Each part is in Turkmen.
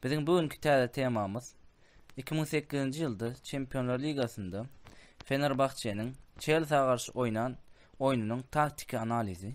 Biziň bu günki täze temamyz 2008-nji ýylda Çempionlar ligasynda Fenerbahçe-niň Çelsiä garşy oýnan oýnunyň taktiki analizi.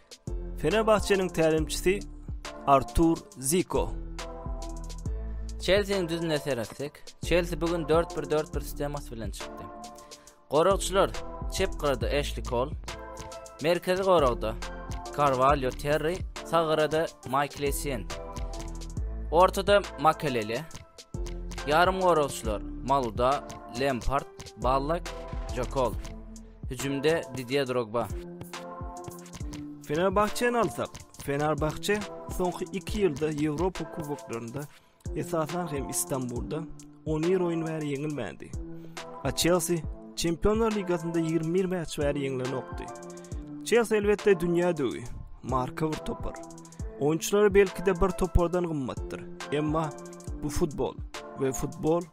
Fenerbahçe-niň tälimçisi Artur Ziko. Çelsiniň düzümine seretsek, Çelsi bu gün 4-1-4-1 sistemasy bilen çykdy. Goragçylar çep gyrada Eşli Kol, merkezi goragda Carvalho Terri, sag gyrada Michael Essien. Ortada Makelele, ýarym goragçylar Maluda, Lempart, Ballak, Jokol. Hüjümde Didýe Drogba. Fenerbahçeni alsak, Fenerbahçe soňky 2 ýylda Ýewropa kuboklarynda, esasan hem Istanbulda 11 oýun bäri ýeňilmändi. A Chelsea Çempionlar ligasynda 21 mäç bäri ýeňlenokdy. Chelsea elbetde dünýä döwi, marka bir topar. Oýunçylary belki-de bir topardan gymmatdyr. Emma bu futbol we futbol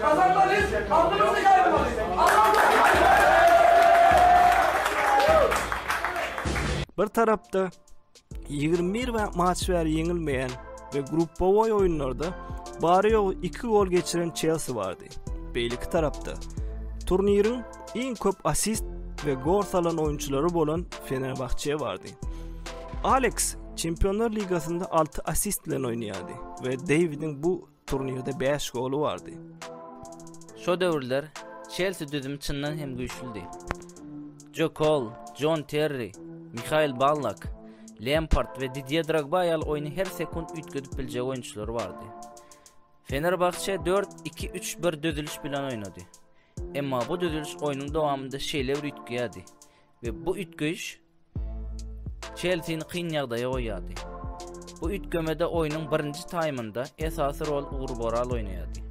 Gazanmalys, alnymyzy ýaýramaly! Bir tarapda ýigrimi bir matç bäri ýeňilmeýän we gruppawoý oýunlarda bary-ýogy iki gol geçiren Çelsi bardy. Beýleki tarapda turniriň iň köp assist we gol salan oýunçylary bolan Fenerbahçe bardy. Aleks Çempionlar ligasynda alty assist bilen oýnaýardy we Deýwidiň bu Turnirde bäş goly bardy. Şo döwürler Çelsi düzümi çyndan hem güýçlüdi. Jo Kol, Jon Terri, Mihail Ballak, Lempard we Didye Drogba ýaly oýny her sekunt üýtgedip biljek oýunçylary bardy. Fenerbahçe 4-2-3-1 düzüliş bilen oýnady. Emma bu düzüliş oýnuň dowamynda şeýle bir üýtgeýärdi we bu üýtgeýiş Çelsini kyn ýagdaýa goýýardy. Bu üýtgemede oýnuň birinji taýmynda esasy rol Ugur Boral oýnaýardy.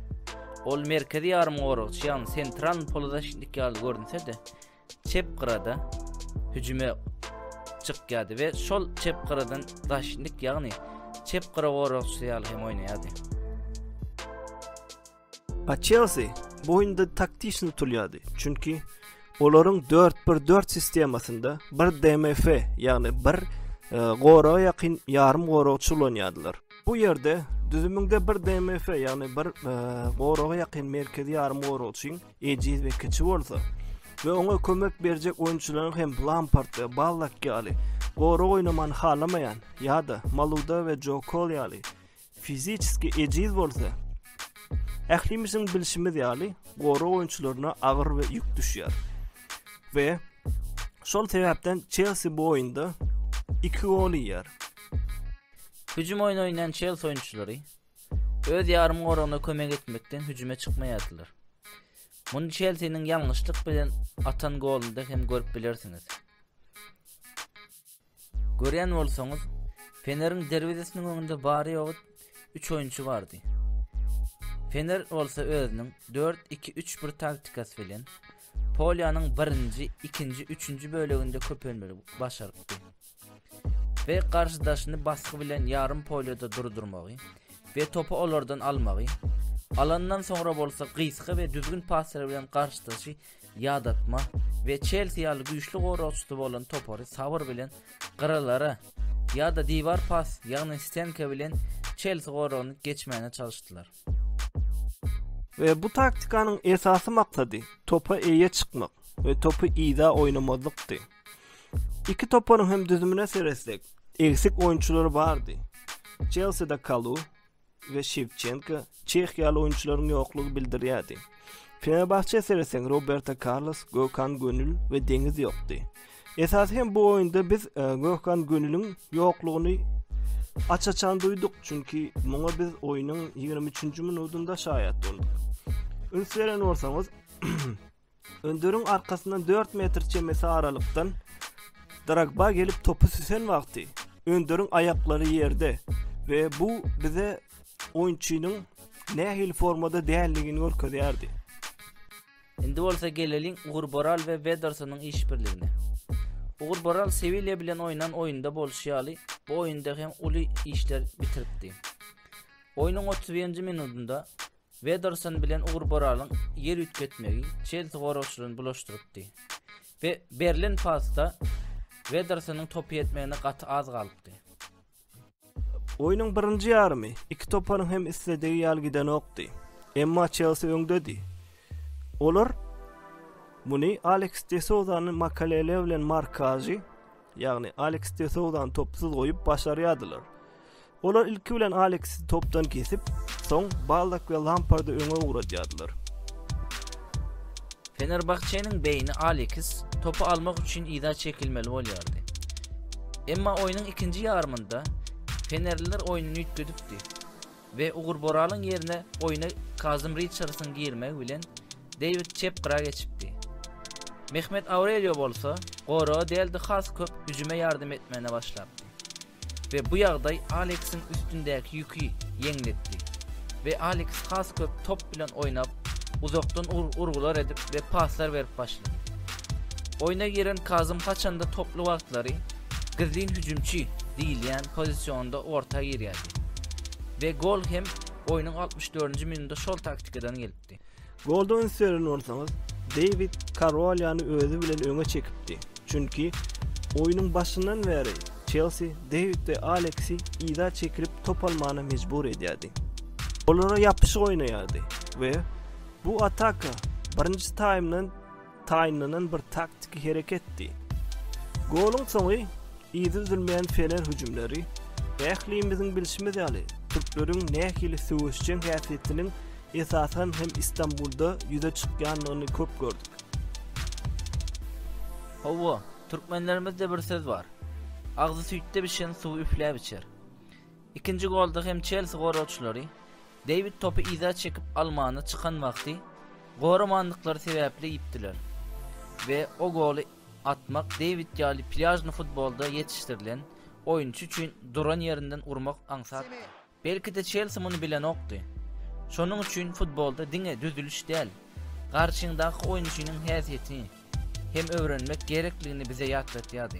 Ol merkezi ýarymgoragçy ýagny sentral polozaçnik ýaly görünse-de, çep gyrada hüjüme çykýardy we şol çep gyradan zaçnik ýagny çep gyra goragçysy ýaly hem oýnaýardy. A Chelsea bu oýunda taktişni tutulýardy, çünki olaryň 4-1-4 sistemasynda bir DMF, ýagny bir e, goraga ýakyn ýarym goragçy ulanýardylar. Bu ýerde düzüminde bir DMF, ýagny bir e, goraga ýakyn merkezi ýarym goragçyň ejiz we kiçi bolsa we oňa kömek berjek oýunçylaryň hem Lampard we Ballak ýaly gorag oýnaman halamaýan ýa-da Maluda we Joe Cole ýaly Fiziçeski ejiz bolsa, ählimiziň bilşimiz ýaly, gorag oýunçylaryna agyr we ýük düşýär. We şol sebäpden Çelsi bu oýunda iki gol iýýär. Hüjüm oýny oýnaýan Çelsi oýunçylary öz ýarym goragyna kömek etmekden hüjüme çykmaýardylar. Muny Çelsiniň ýalňyşlyk bilen atan golunda hem görüp bilersiňiz. Görýän bolsaňyz, Feneriň derwezesiniň öňünde bary-ýogy üç oýunçy bardy. Fener bolsa özüniň 4-2-3-1 taktikasy bilen polýanyň birinji, ikinji, üçünji böleginde köpelmeli başarypdy. We garşydaşyny basgy bilen ýarym polýada durdurmagy we topy olardan almagy, alandan soňra bolsa gysga we düzgün paslar bilen garşydaşy ýadatma we Çelsi ýaly güýçli goragçysy bolan topary sabyr bilen gyralara ýa-da diwar pas, ýagny stenka bilen Çelsi goragyny geçmäne çalyşdylar. We bu taktikanyň esasy maksady topa eýe çykmak we topy yza oýnamazlykdy. Iki toparyň hem düzümine seretsek, egsik oýunçylary bardy. Çelside Kalu, we Şewçenko, Çeh ýaly oýunçylaryň ýoklugy bildirýärdi. Fenerbahçä seretseň, Roberto Karlos, Gökhan Gönül we Deňiz ýokdy. Esasy hem bu oýunda biz e, Gökhan Gönüliň ýoklugyny aç-açan duýduk, çünki muňa biz oýnuň 23-nji minutynda şaýat bolduk. Üns beren bolsaňyz, Önderiň arkasyndan dört metr çemesi aralykdan Drogba gelip topy süsen wagty Önderiň aýaklary ýerde we bu bize oýunçynyň nähili formada däldigini görkezýärdi. Indi bolsa geleliň Ugur Boral we Wedersonyň işbirligine. Ugur Boral Sewilýa bilen oýnan oýunda bolşy ýaly, bu oýunda hem uly işler bitiripdi. Oýnuň otuz birinji minudynda Wederson bilen Ugur Boralyň ýer üýtgetmegi Çelsi goragçylaryny bulaşdyrypdy we berlen pasda Wedersonyň topy ýetmegine gaty az galypdy. Oýnuň birinji ýarymy iki toparyň hem isledigi ýaly gidenokdy. Emma Çelsi öňdedi. Olar muny Aleks de Souzany Makelele bilen markažy Ýagny Aleks de Souzany topsuz goýup başarýardylar. Olar ilki bilen Aleksi topdan kesip, soň Baldak we Lampardy öňe ugradýardylar. Fenerbahçe-niň beýni Aleks topy almak üçin yza çekilmeli bolýardy. Emma oýnuň ikinji ýarymynda fenerliler oýnuny üýtgedipdi. we Ugur Boralyň ýerine oýna Kazym Riçardsyň girmegi bilen Deýwid çep gyra geçipdi. Mehmet Aurelio bolsa goraga däl-de has köp hüjüme ýardam etmäne başlapdy we bu ýagdaý Aleksiň üstündäki ýüki ýeňletdi we Aleks has köp top bilen oýnap, uzakdan urgular edip we paslar berip başlady. Oýna giren Kazym haçanda toply wagtlary Gizlin hüjümçi diýilýän pozisionda orta girýärdi we gol hem oýnuň altmyş dördünji minutynda şol taktikadan gelipdi. Golda üns beren bolsaňyz, Deýwid Karolýany özi bilen öňe çekipdi, çünki oýnuň başyndan bäri Çelsi Deýwid we Aleksi yza çekilip top almana mejbur edýärdi. Olara ýapyşyk oýnaýardy we bu ataka birinji taýmdan taýynlanan bir taktiki hereketdi. Goluň soňy yzy üzülmeýän fener hüjümleri, ählimiziň bilşimiz ýaly, türkleriň nähili söweşjeň häsiýetiniň esasan hem Istanbulda ýüze çykýandygyny köp gördük. Hawa, türkmenlerimizde bir söz bar. Agzy süýtde bişen suwy üfläp içer. Ikinji golda hem Çelsi goragçylary Dewid topy yza çekip almana çykan wagty goramandyklary sebäpli ýitdiler we o goly atmak Dewid ýaly plýažny futbolda ýetişdirilen oýunçy üçin duran ýerinden urmak aňsatdy. Belki-de Çelsi muny bilenokdy. Şonuň üçin futbolda diňe düzüliş däl, garşyňdaky oýunçynyň häsiýetini hem öwrenmek gerekligini bize ýatlatýardy.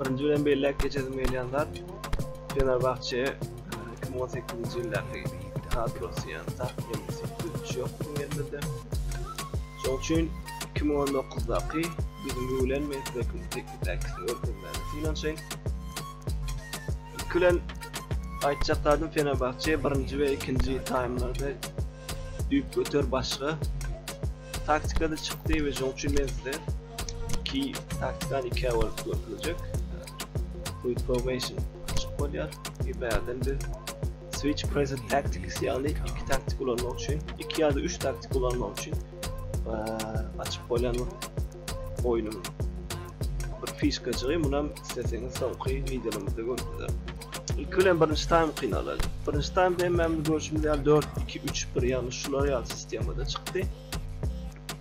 Birinji bilen belläp geçesim gelýän zat Fenerbahçe 2018-nji ýyldaky kadrosy ýa saf ýeňse güýç ýok bu ýerde. Şoň üçin 2019-daky biziň bilen men size kim teknikdäki görkezmäge synanyşaýyn. Külen aýtjak zadym Fenerbahçe birinji we ikinji taýmlarda düýp göter başga Bu taktikada çykdy we şoň üçin men size iki taktikany iki bölüp görkezjek. Quick formation açyk bolýar. Bir bärden biz switch present tactics ýaly iki taktik ulanmak üçin, iki ýa-da üç taktik ulanmak üçin açyk bolýan oýnuň bir fişkajygy munam isleseňiz soňky wideomyzda görüpsiňiz. Ilki bilen birinji taým kynalaly. Birinji taým hemmämiz görüşimiz ýaly 4-2-3-1 ýagny şular ýaly sistemada çykdy.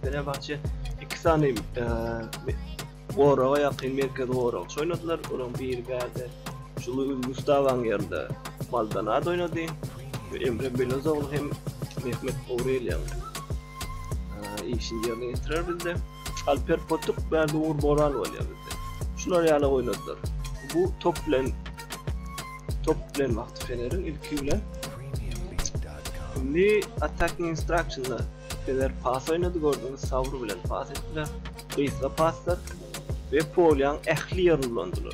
Fenerbahçe iki sany e, goraga ýakyn merkez goragçy oýnadylar. Olaryň biri bärde Julu Gustawaň ýerinde Maldonado oýnady. Emre Belozoglu hem Mehmet Aureliýan işini yerine getirer bizde. Alper Potuk, Berdi Uğur Boran bolýar bizde. Şular ýaly oýnadylar. Bu top bilen top bilen wagty Fenerin ilki bilen Indi attacking instructionda Fener pas oýnady gördüňiz Sabr bilen pas etdiler. Gysga paslar we polýan ähli ýerini ulandylar.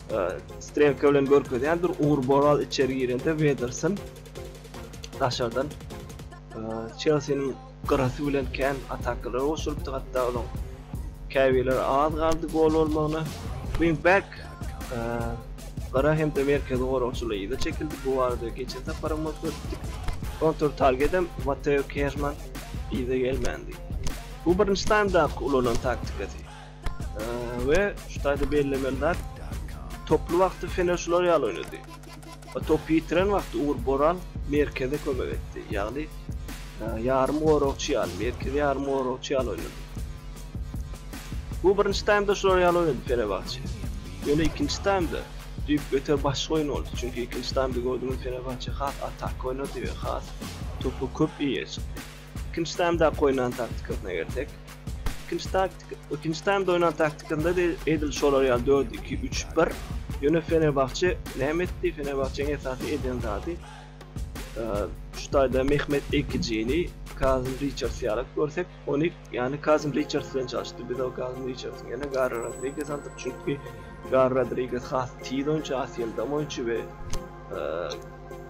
Strelka bilen görkezýändir, Ugur Boral içeri girende Wederson daşardan Çelsiniň gyrasy bilen kän atakalar goşulypdy, hatda olaň käbirleri az galdy gol bolmagyna. Wing back Gara hem-de merkezi goragçylar ýygy çekildi. Bu barada geçen sapar hem görkezdik. Kontur targedem Mateo Kerman ýygy gelmändi. Bu birinji taýmdaky ulanan taktikasy. we şu taýda bellemeli zat toply wagty Fener şular ýaly oýnady. Topy ýitiren wagty Ugur Boral merkeze kömek etdi. Ýagny ýarym goragçy ýaly, merkezi ýarym goragçy ýaly oýnady. Bu birinji taýmda şular ýaly oýnady Fenerbahçe. Ýöne ikinji taýmda düýp göter başga oýun boldy. Çünki ikinji taýmda gördümiz Fenerbahçe has atak oýnady we has topu köp eýe çykdy. Ikinji taýmdaky oýnan taktikasyna gelsek. Ikinji taktika, ikinji taýmda oýnan taktikasynda edil şolar ýaly 4-2-3-1. Ýöne Fenerbahçe näme etdi? Fenerbahçeň esasy eden zady şu taýda Mehmet Ekijini, Kazim Richards ýaly görsek, ony ýany Kazim Richards bilen çalyşdy. Biz o Kazim Richards ýene Garry Rodriguez aldyk, çünki Garry Rodriguez has tiz oýunçy, has ýyldam oýunçy we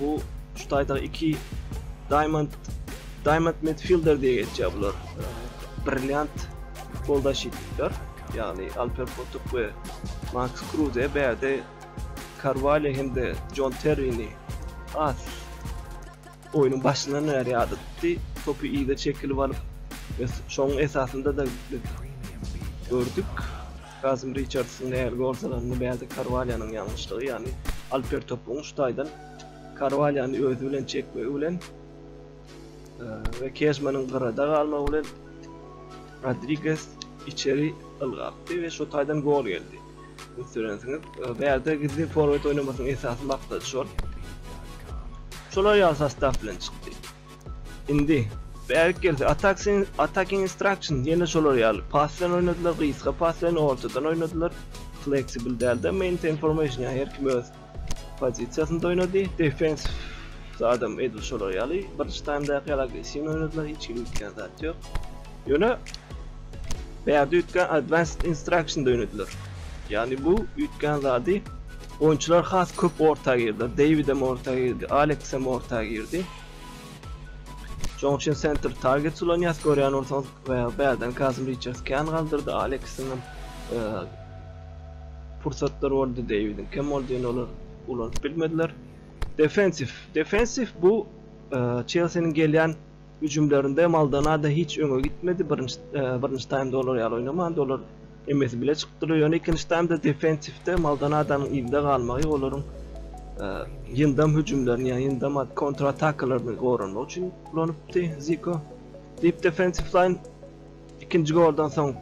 Bu şu taýdaky iki Diamond Diamond Midfielder diýip geçýär bular. Brilliant goldaşyklar, ýagny Alper Potuk we Max Kruse bärde Carvalho hem-de John Terrini as oýnuň başyndan bäri ýada tutdy. Topy ýygy çekilip alyp, şoň esasynda-da biz gördük. Gazym Riçardsyň nähili gorsalanyny bärde Karwalýonyň ýalňyşlygy, ýagny Alper topugyň şu taýdan Karwalýony özi bilen çekmegi bilen we Kežmanyň gyrada galmagy bilen Rodriges içeri ylgapdy we şu taýdan gol geldi. Göterensiňiz, bärde gizlin forward oýnamasynyň esasy maksady şol. Şolar ýaly sostaw bilen çykdy. Indi, bärik gel, Attacking Instructions, ýene şolar ýaly, pass bilen oýnadylar, gysga pass bilen, ortadan oýnadylar, Flexible däl-de, Maintain Formation, ýa her kim öz pozisiýasynda oýnady, Defensive zadam edil şolar ýaly, birinji taýmdaky ýaly agressiwny oýnadylar, hiç kim üýtgän zat ýok. Ýöne, bärde üýtgän Advanced Instructions oýnadylar. Ýagny bu üýtgän zady Oýunçylar has köp orta girdi. Deýwidem orta girdi, Aleksem orta girdi. Şoň üçin senter target ulanýas, görýän bolsaňyz, bärden Kazym Riçards kän galdyrdy, Aleksiň hem e, pursatlar boldy, Deýwidiň kem boldy, ýöne olar ulanyp bilmediler. Defensif, defensif bu e, Çelsiniň gelýän hüjümlerinde Maldonado hiç öňe gitmedi. Birinji e, birinji taýmda olar ýaly oýnamandy. Olar Emmesi bile çykyp durýar. Ýöne ikinji taýmda defensiwde Maldonadanyn ilde galmagy olaryň ýyndam hüjümlerini, ýa ýyndam kontratakalaryny goranmak üçin ulanypdy Ziko. Deep defensive line ikinji goldan soň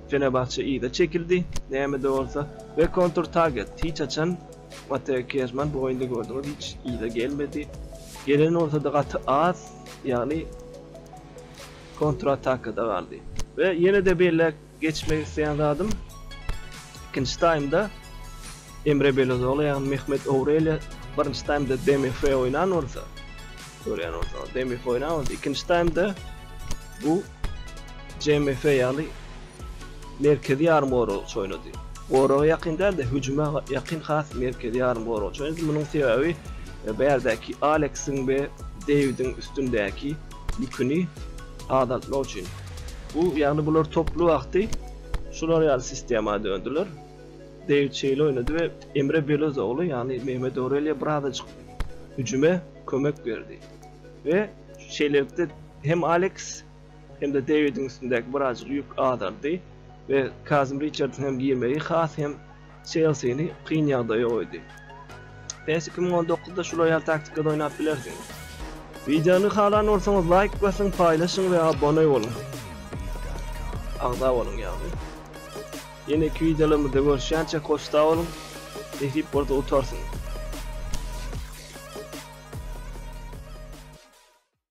Fenerbahçe yza çekildi. Näme-de bolsa we kontur target hiç haçan Mateo Kezman bu oýunda gördüňiz hiç yza gelmedi. Gelen bolsa-da gaty az, ýagny kontratakada galdy. We ýene-de beýle Geçmek isleýän zadym ikinji taýmda Emre Belözoglou ýagny Mehmet Ourelýa birinji taýmda DMF oýnan bolsa, görýän bolsaňyz DMF oýnan bolsa, ikinji taýmda bu CMF ýaly merkezi ýarym goragçy oýnady. Goraga ýakyn däl-de, hüjüme ýakyn has merkezi ýarym goragçy oýnady. Munuň sebäbi e, bärdäki Aleksiň we Deýwidiň üstündäki ýüküni azaltmak üçin. Bu, ýagny bular toply wagty şular ýaly sistema döndüler. Deýwid şeýle oýnady we Emre Belozoglu, ýagny Mehmet Aurelýo birazajyk hüjüme kömek berdi we şeýlelikde hem Aleks, hem-de Deýwidiň üstündäki birazajyk ýük azaldy we Kazym Riçardyň hem girmegi has hem Çelsini kyn ýagdaýa goýdy. Pes iki müň on dokuzda şu roýal taktikada oýnap bilersiňiz. Wideony halan bolsaňyz laýk basyň, paýlaşyň we abone boluň. Agza boluň ýagny. Ýeneki wideolarymyzda görüşýänçä hoşsa boluň. Nesip bolsa utarsyň.